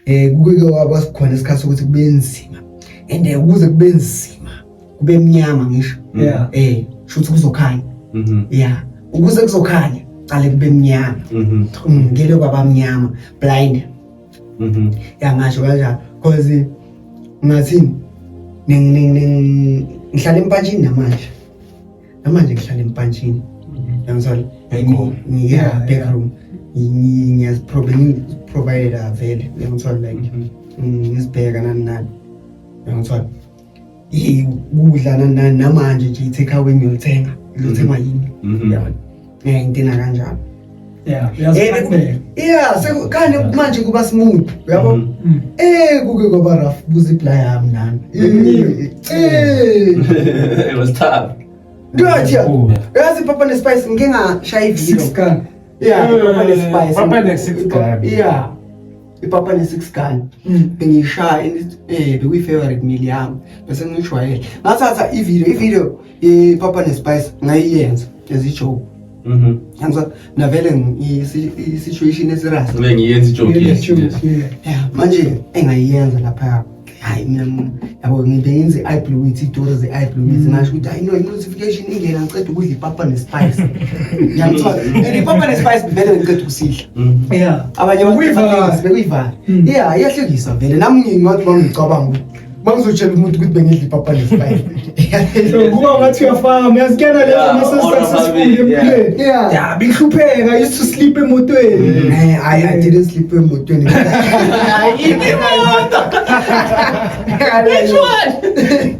Eh kuke kwaba sikhona isikhathi sokuthi kube nzima. And eh, ukuze kube nzima kube mnyama ngisho. Mm. Yeah. Eh shuthi kuzokhanya. Mhm. Yeah. Ukuze kuzokhanya qale kube mnyama. Mhm. Mm, ngeke kwaba mnyama blind. Mhm. Yangasho kanjalo because ngathini ngihlala empatshini namanje namanje ngihlala empantshini yangizwala ngiya backroom ngiyaziprovidela vele yangizwala like ngizibheka nani nani yangizwala kudla nani nani namanje nje i-take away ngiyolithenga liyothengwa yini yabona ngiyayidinga kanjalo yeah eh, yeah sekukane manje kuba smooth uyabo mm. Mm. eh kuke kwaba rough buzipla yami nami mm. eh it was tough Ndothi oh, yazi papa ne spice ngike ngashaya ivideo six gun yeah eh, papa ne spice papa ne six gun yeah ipapa ne six gun bengishaya eh bekuyi favorite meal yami bese ngishwayele ngathatha ivideo ivideo ipapa nespice ngayiyenza as ijoke mhm. yangizwa mina vele i-situation esirasi ngiyenza ijoke manje engayiyenza lapha hayi mina yabo ngibenze i-eye blue with itori ze-eye blue with ngasho ukuthi hayi no i-notification ingena ngiceda ukudla ipapa nespice yangithola and ipapa nespice vele bengiceda ukusidla mm-hmm. abanye bekuyivale mm. ya iyahlekisa vele nami ngingathi bangicabanga ukuthi Mangizotshela umuntu ukuthi bengidla ipapa lesibayile. Ngoba ngathi uyafaka uyazikena lezo Yeah, mase or successful ababili, empilweni. Yeah. Yeah, bihlupheka used to sleep emotweni. Eh, I, I didn't sleep emotweni. Ayiphi imoto? Which one?